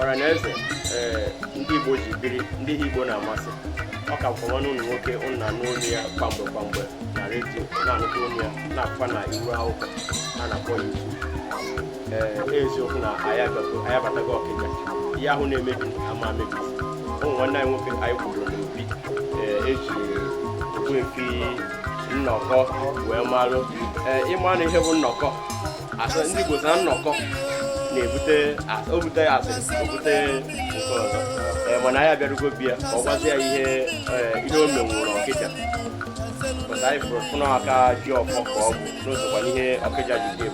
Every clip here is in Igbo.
ọra na eze ee ndị igbo ji biri ndị ihe igbo na-amasị ọ ka bụkwa nwanne ụnụ nwoke ụnụ na-anụ olu ya kwamgbe kwamgbe na redio na-anụkwa olu ya nakwa na iru akwụkwọ a na-akpọ ya iwu eziokwu na anyị abatago ọkịja ihe ahụ na-emebi ama amebi ụmụ nwanne anyị nwoke anyị kwuru n'obi eji ogbuefi nnọkọ wee malụ ịma na ihe bụ nnọkọ asị ndị Igbo na nnọkọ na-ebute obute asị obute nke ọzọ mana anyị abịarugo be ya ka ọ gwazi ya ihe ihe o menwụrụ ọkịja pụta anyị fụrụ fụna aka ji ọfọ ka ọ bụ n'osokwa n'ihe ọkịja ji dị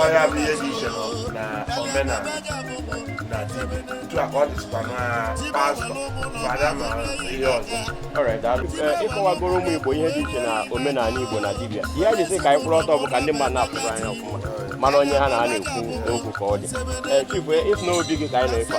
ọ ya bụ ihe dị iche na omenala na dibịa otu a ka ọ dịzikwa na pastọ fada ma ihe ọzọ ịkọwagoro ụmụ Igbo ihe dị iche na omenala Igbo na dibịa ihe anyị ji sị ka anyị kwụrụ ọtọ bụ ka ndị mmadụ na-apụrụ anya ọfụma mara onye ha na ha na-ekwu okwu ka ọ dị chifu ịfụ n'obi gị ka anyị na-efe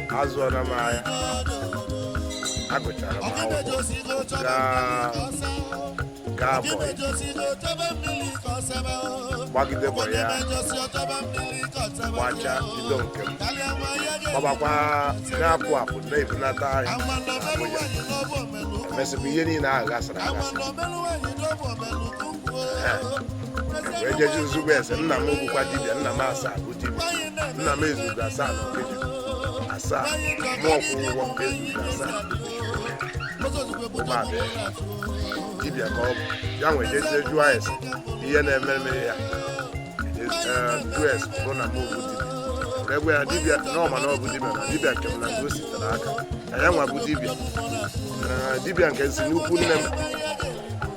azụọla m ahịa agụchara m akwụkwọ gaa gbaa bọyị gbagide bọyị ya gbacha bido nke m gbabakwa na-apụ apụ na-ebunata ahịa Abuja emesịkwa ihe niile ahụ gasịrị agasị wee jezie n'ịjụ ese nna m bụkwa dibịa nna m asa nna m ezugo asaa na ọkịja asaa mụọ kwụ ụgwọ m ezugo asaa ụmụada ya dibịa ka ọ bụ ya m wee jezie jụọ ese ihe na-eme eme ya jụọ ese bụ na m obu dibịa wee gwa ya dibịa na ọ ma na ọ bụ dibịa na dibịa nke m na nke o sitere aka na ya nwa bụ dibịa na dibịa nke si n'ukwu nne m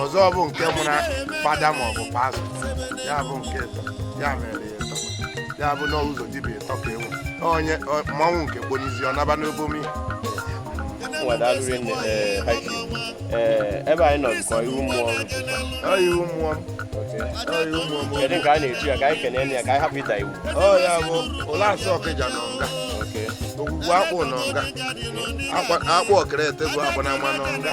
ọzọ bụ nke mụrụ fada ma ọ bụ pastọ ya bụ nke ịtọ ya mere ya ịtọ ya bụ na ụzọ dibịa ịtọ ka enwe onye ọ- mmanwụ nke gbonizi ọ naba n'obomi nwadalụri nne ee haki ee ebe anyị nọ bụkwa iru mmụọ ọrụ ọ iru mmụọ m ọ iru mmụọ m kedu nke a na-etu ya ka anyị kenee nne ya ka anyị hapụ ịda iwu ọ ya bụ ụlasị ọkịja nọ nga oke ogwugwu akpụ nọ nga akwa- akpụ ọkịrịte bụ akpụ na ama nọ nga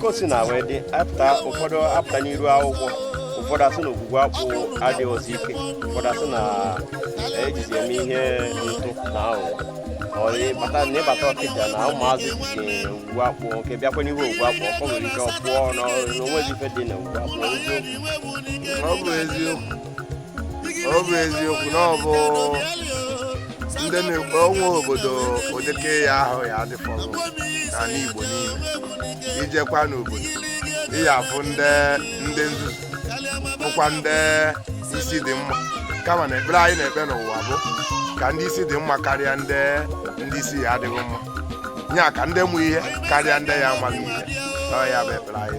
ka o si na wee dị apụta ụfọdụ apụta n'iru akwụkwọ ụfọdụ asị na ogwugwu akpụ adịghịzi ike ụfọdụ asị na ejizi eme ihe ntụ na aghụghọ ị bata na ị bata ọkịja na ụmụazị ji ogwugwu akpụ nke bịakwa n'ihu ogwugwu akpụ ọkọ nwere ike ọ pụọ na o nweghị ife dị na ogwugwu akpụ ọ bụ eziokwu ọ bụ eziokwu na ọ bụ na o nwe obodo ụdịka ya ahụ ya adịfọ n'anị Igbo niile i jekwa n'obodo ị ya-afụ ndị ndị nzuzu fụkwa ndị isi dị mma kama na ekpere anyị na-ekpe n'ụwa bụ ka ndị isi dị mma karịa ndị ndị isi ya adịghị mma ya ka ndị ma ihe karịa ndị ya amaghị ihe ọ ya bụ ekpere anyị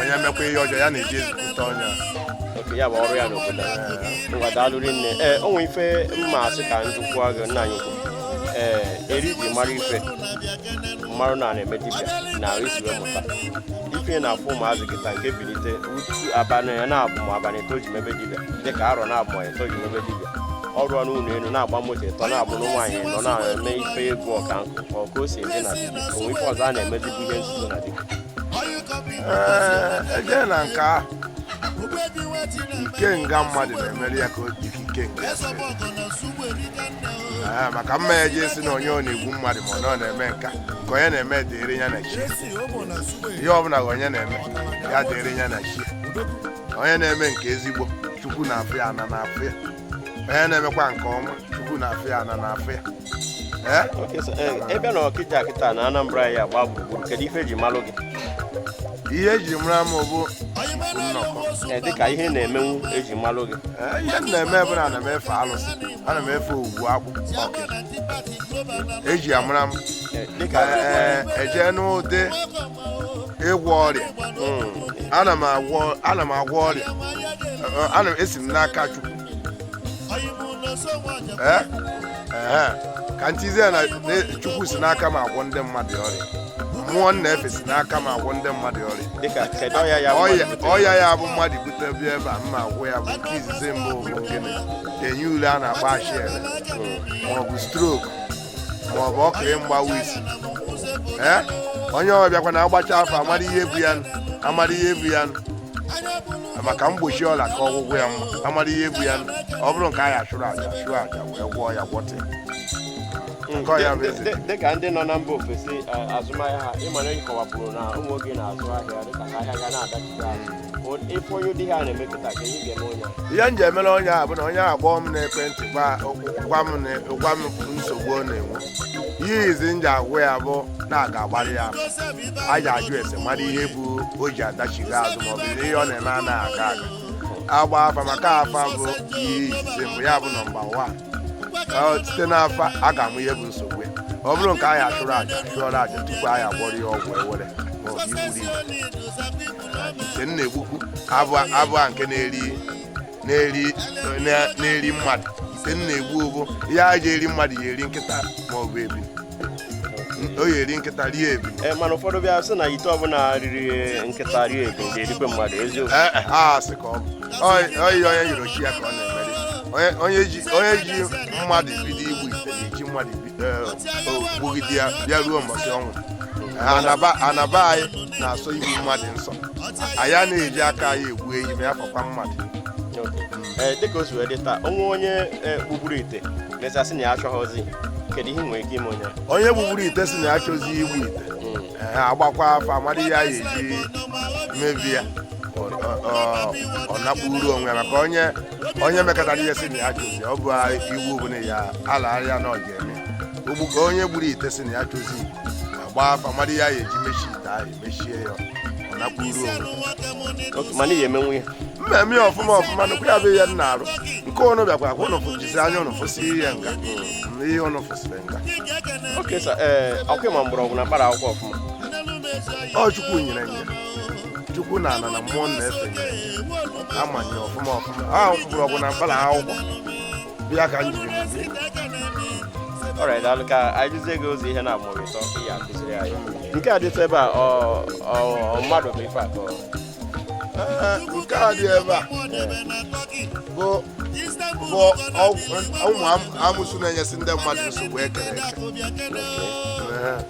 onye mekwa ihe ọjọọ ya na-eji ezikọta ọnya oke ya bụ ọrụ ya n'obodo a. ngwa daalụ rinne ee o nwere ife m ma-asị ka m jụkwuo gị nna anyị ukwu ee eri m ji mara ife m marụ na a na-eme dibịa na ahụ isi wee mụta ife ị na-afụ ụmụazị gị taa nke bilite utu abalị ya na-abụ ma abalị eto ji mebe dibịa dịka arọ na-abụ ma eto ji mebe dibịa ọ rụọ nụ ụlọ elu na-agba moto ịtọ na-abụ na nwaanyị nọ na-eme ife egwu ọka nkụ ka ọ ka o si eme na dibịa o nwe ife ọzọ a na-eme dibịa ihe nzuzo na dibịa ee eje na nke ahụ ikenga mmadụ na-emeri ya ka o dịka ikenga Ee, maka m ma eje ịsị na onye ọ na-egbu mmadụ ma ọ na ọ na-eme nke a nke onye na-eme dịrị ya na chi ihe ọbụla ka onye na-eme ya dịrị ya na chi onye na-eme nke ezigbo chukwu na-afụ ya ana na-afụ ya onye na-emekwa nke ọma chukwu na-afụ ya ana na-afụ ya Eh? Eh, ebe n'Ọkịja kịta na Anambra ya gba gburugburu kedu ife eji malụ gị ihe eji mara m bụ eh, dịka ihe na-emenwu eji malụ gị ihe m na-eme bụ na ana m efe alụsị ana m efe Ọgwụgwụ Akpụ eji amara m eje n'ụdị ịgwọ ọrịa hmm. ana m agwọ ọrịa ana m esi m n'aka Chukwu Eh? Eh. ka m sịzie na chukwu si n'aka m agwọ ndị mmadụ ọrịa mmụọ m na-efe si n'aka m agwọ ndị mmadụ ọrịa ọya ya bụ mmadụ bute bịa ebe a m ma-agwọ ya bụ nke izizi mbụ bụ gịnị enyi ule a na-akpọ acha ere maọbụ stroke ma ọ bụ oke mgbawa isi ee onye ọ bịakwa na agbacha afa amara ihe bụ ya nụ, amara ihe bụ ya nụ. maka mgbochi ọrịa ka ọgwụgwọ ya mma amara ihe bụ ya nụ. ọ bụrụ nke a ya-achụrụ aja chụọ aja wee gwọọ ya gwọta ya. Nke ọ ya bụ ezie. Dị- dịka ndị nọ na mba ofesi eh, azụmahịa ha ị mara nkọwapụrụ na ụmụ oge na-azụ ahịa dịka ahịa ga na-adachite azụ ihe m ji emere onye a bụ na onye a kpọọ m n'ekwentị gwa m nsogbu ọ na-enwe ihe izizi m ji agwa ya bụ na a ga-agbara ya aja ajụ ese mara ihe bụ o ji adachiga azụ maọbụ na ihe ọ na-eme anaghị aga a ga-agba afa maka afa bụ ihe izizi mbụ ya bụ number one site n'afa a ga-ama ihe bụ nsogbu ya ọ bụrụ nke a ya-achụrụ aja chụọrọ aja tupu a ya-agwọrọ ya ọgwụ awele maọbụ igburu igwe nke m na-egbukwu abụ abụ a nke na-eri na-eri na- na-eri mmadụ nke m na-egbu bụ ihe a ji eri mmadụ ya eri nkịta ma ọ bụ ebi o ya eri nkịta rie ebi Eh, mana ụfọdụ bịa sị na ite ọbụla riri nkịta rie ebi ga-erikwa mmadụ eziokwu Ee, e, ha asị ka ọ bụ Ọ- ọ ihe onye yọrọ chi ya ka ọ na-emere Onye- onye ji onye ji mmadụ bido igbu ite na-eji mmadụ ibi o gbugide ya bịa ruo mbọchị ọnwụ ana ba ana ba anyị na-asọ igbu mmadụ nsọ anyị a na-eji aka anyị egbu ehi ma ya fọkwa mmadụ Ee, dịka o si wee dị taa o nwee onye e, gbugburu ite mezasị na ya achọghọzi kedu ihe ị nwere ike ime onye onye gbugburu ite sị na ya achọzi igbu ite a gbakwa afa a mara ihe a ga-eji mebie ya ọ- ọ- ọ- ọ nakpuru onwe ya maka onye onye mekatara ihe sị na ya achọzi ọ bụ iwu bụ na ya alagharịa na ọ ga-eme ugbu ka onye gburu ite sị na ya achọzi agba afa mara ihe a ya-eji mechie ite ahụ emechie ya ọ nakwuru onwe mana ihe emenwe ya mmemme ya ọfụma ọfụma nụkwa ya bụ ihe m na-arụ nke ụnụ bịakwa akwa ụnụ fụjizi anya ụnụ fụsị ihe nga na ihe ụnụ fụsịrị nga okay sir ee akwụkwọ ma mgbọrọgwụ na mkpara akwụkwọ ọfụma ọ chukwu nyere nye chukwu na ala na mmụọ na-efe amanye ọfụma ọfụma ahụ mgbọrọgwụ na mkpara akwụkwọ bụ ya ka m jiri mụzi ọrụ a daalụ ka anyị gụzie gị ụzọ ihe na-amụrụ ịtọ ka ị ya akụziri anyị nke a dịtụ ebe a ọ ọ ọ mmadụ bụ ife atọ Ee, nke a dị ebe a bụ bụ ọgwụ- ụmụ am- amusu na-enyesi ndị mmadụ nsogbu e kere eke Ee,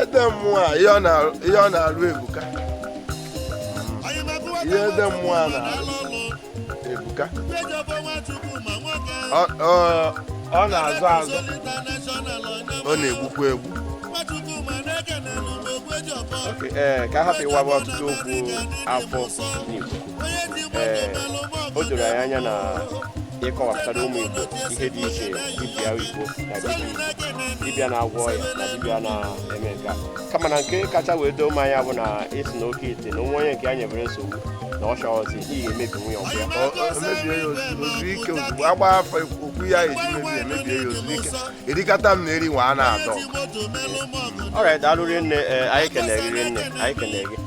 ede mmụọ a ihe ọ na-arụ ebuka ihe ede mmụọ a na-arụ ebuka ọ na-azọ azọ ọ na-egbukwa egbu ee ka a hapụ ịwaba ọtụtụ okwu afọ n'Igbo ee o doro anyị anya na ị kọwapụtara ụmụ Igbo ihe dị iche dibịa Igbo na dibịa na-agwọ ọya na dibịa na-eme nke a kama na nke kacha wee doo anya bụ na ị sị na oke ite na o nwee onye nke ya nyebere nsogbu na ọ chọghọzi ihe emebi nwunye ọgwụ ya emebie ya ozugbo ike ozugbo agba afa o kwuo ihe a eji mebie emebie ya ozugbo ike erikata m na eri nwanne adịrọ ya daalụ rinne eh, anyị kenee gị rinne anyị kenee gị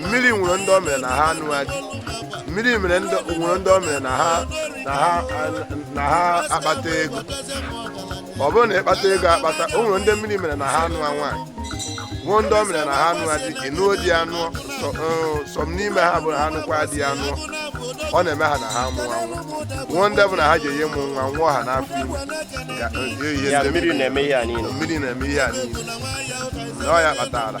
mmiri nwere ndị o mere na ha anụa di mmiri mere ndị nwere ndị o mere na ha na ha na ha akpata ego ọ bụrụ na ị kpata ego akpata o nwere ndị mmiri mere na ha anụ nwaanyị nwee ndị o mere na ha anụa di ị nụọ di anụ some n'ime ha bụ na ha nụkwa di anụ ọ na-eme ha na ha amụa nwa nwee ndị bụ na ha jee ịmụ nwa nwụọ ha n'afọ ime ga- ga- ihe ya ndị mmiri na-eme ihe a niile mmiri na-eme ihe a niile na ọ ya kpatara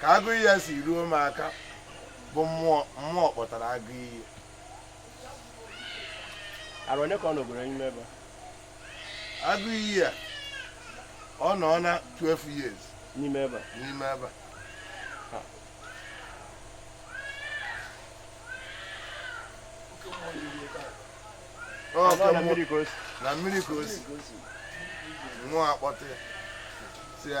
ka agụ iyi a si ruo m aka bụ mmụọ mmụọ kpọtara agụ iyi arụ onye ka ọ nọgoro n'ime ebe agụ iyi a ọ nọọna 12 years n'ime ebe n'ime ebe na mmiri ka o si nwee kpọta ya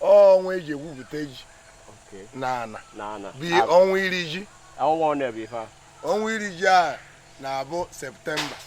ọnwa eji egwupụta ji na ana bụ ọnwa iri ji ọnwa iri ji a na-abụ September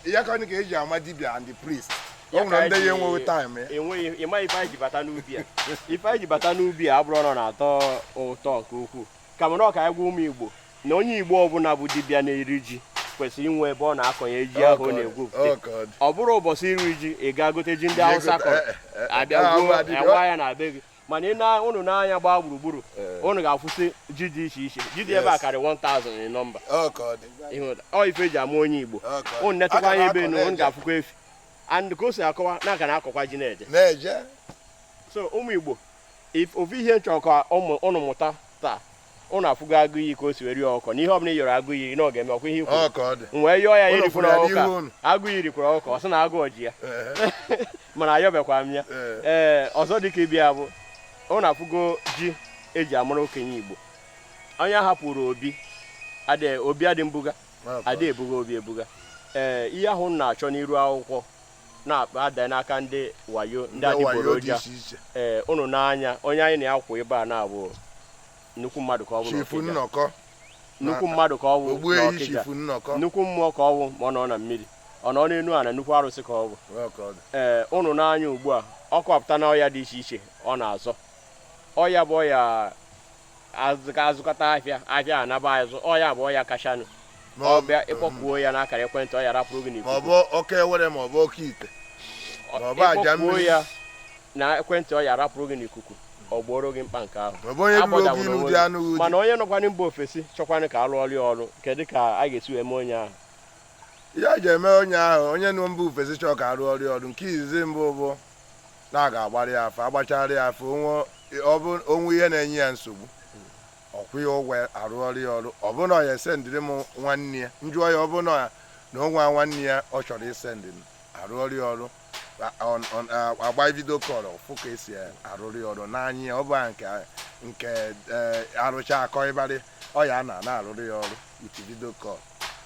ya ka ka eji ama dibia and the priest o nwere ndị ya enweghị time ya enweghị ịma ife anyị ji bata n'ubi a ife anyị ji bata n'ubi a abụrọ na na-atọ ụtọ nke ukwuu ka mana ọ ka anyị gwa ụmụ igbo na onye Igbo ọbụla bụ dibịa na-eri ji kwesịrị inwe ebe ọ na-akọnye ji ahụ ọ na-egwupụta ọ bụrụ ụbọchị iri ji ị gaa gote ji ndị Hausa kọrọ eh, eh, eh, abịa gwuo awa ya na be gị mana ị na ụnụ nee anya gbaa gburugburu ụnụ ga-afụsi ji dị iche iche ji dị ebe a karị 1000 nọmba ọ ife eji ama onye Igbo ụnụ netụkwa anya ebe enu ụnụ ga-afụkwa efi and ka o si akọwa na a ka na-akọkwa ji na-eje so ụmụ Igbo ofu ihe m chọrọ ka ụnụ mụta taa ụnụ afụgo agụ iyi ka o si wee rie ọkụkọ na ihe ọbụla ị yọrọ agụ iyi na ọ ga-eme ọkwa ihe ikwu m wee yọọ ya rikwuru ọkụkọ agụ iyi rikwuru ọkụkọ ọ sị na agụụ eji ya mana ayọbekwa m ya ee eh, ọzọ dịka ibe ya bụ ụnụ afụgo ji eji amara okenye igbo onye hapụrụ obi obi adị mbuga adị ebuga obi ebuga ee eh, ihe ahụ m na-achọ n'iru akwụkwọ na-ada n'aka ndị wayo ndị Ndị wayo ndị adịgboroja iche iche ee ụnụ nee anya onye anyị na ya kwụ ebe a na-abụ nnukwu mmadụ ka ọ bụ chifu n'Ọkịja. nnọkọ nnukwu mmadụ ka ọ bụ ogbu ehi n'Ọkịja. chifu nnọkọ nnukwu mmụọ ka ọ bụ ma ọ nọ na mmiri ọ nọ n'enu ana nnukwu arụsị ka ọ bụ Ọ ka ọ dị. ee ụnụ nee anya ugbu a ọ kọpụta na ọya dị iche iche ọ na-azọ ọya bụ ọya azụka azụkata ahịa ahịa anaba azụ ọ ya bụ ọya kachanụ Ma ọ- ọ bịa ị kpọkuo ya n'akara ekwentị ọ ya rapụrụ gị ma n'ikuku ọ bụ oke awele ma ọ bụ oke ite Ọ- ma ọ bụ aja ịkpọkwuo mmiri. ya na ekwentị ọ ya rapụrụ gị n'ikuku ọ gbooro gị mkpa nke ahụ ma ọ bụ onye ruru oge Agbadaworo ilu onwe dị gị. anụ uju mana onye nọkwanị mba ofesi chọkwanị ka alụọrọ ya ọrụ kedu ka a ga-esi wee mee onye ahụ ya ji eme onye ahụ onye nọ mba ofesi chọọ ka arụọrọ ọrụ nke izizi mbụ bụ na a ga-agbara ya afa agbachara ya afa o nwee ihe na-enye ya nsogbu ọ kwụọ ya ụgwọ arụọrọ ya ọrụ ọ bụ na ya esendịrị m nwanne ya m jụọ ya ọ bụrụ na o nwee nwanne ya ọ chọrọ isendị m arụọrọ ya ọrụ agba video call fụ ka esi arụrụ ya ọrụ n'anya ya ọ bụ nke nke e, arụcha akọ ịbarị ọ ya na na-arụrụ ya ọrụ iti video call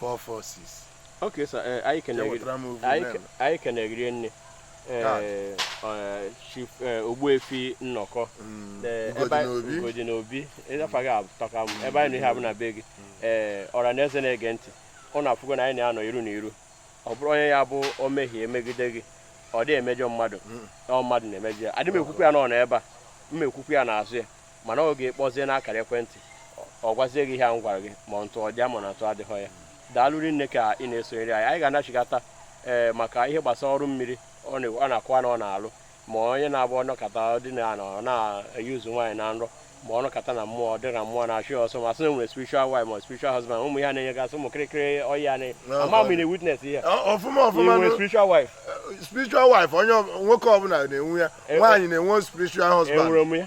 446 okay sir eh, anyị kene gị rinne eh, eh, chief ogbuefi nnọkọ mm, Ugodinobi ịza afa gị atọka m ebe anyị nọ ihe a bụ na be gị ee mm. ọra na eze na-ege ntị unu afụgo na anyị na-anọ iru na iru ọ bụrụ onye ya bụ o mehie megide gị ọ dị emejọ mmadụ mm. ọ mmadụ na-emejọ ya adị m ekwukwu ya n'ọnụ ebe a m ekwukwu ya n'azụ ya mana ọ ga-akpọzie n'akara ekwentị ọ gwazie gị ihe a m gwara gị ma ntụ ọ dị ya ma na ntụ adịghị ya daalụ rinne ka ị na-esonyere anyị anyị ga-anachigata ee eh, maka ihe gbasara ọrụ mmiri ọ na-akọwa na ọ na-alụ ma onye na-agba ọ nọkata dị na anọ na-eyuzu nwaanyị na nrọ ma ọ nọkata na mmụọ ọ dị ka mmụọ na-achụ ya ọsọ ma sị na nwere spiritual wife ma spiritual husband ụmụ ya na-enyegasị ụmụ kịrịkịrị ọya na ama m na witness ihe ọfụma ọfụma nwere spiritual wife spiritual wife onye nwoke ọbụla na-enwe ya eh, eh. nwaanyị na-enwe spiritual husband enwere m ya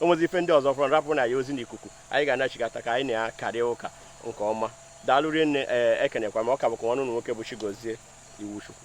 o nwezi ife ndị ọzọ fọrọ rapụ na ya ozi n'ikuku anyị ga-anachigata ka anyị na-akarịa ụka nke ọma daalụ rinne ee eh, ekenekwa m ọ ka bụkwa nwanne unu nwoke bụ Chigozie Iwuchukwu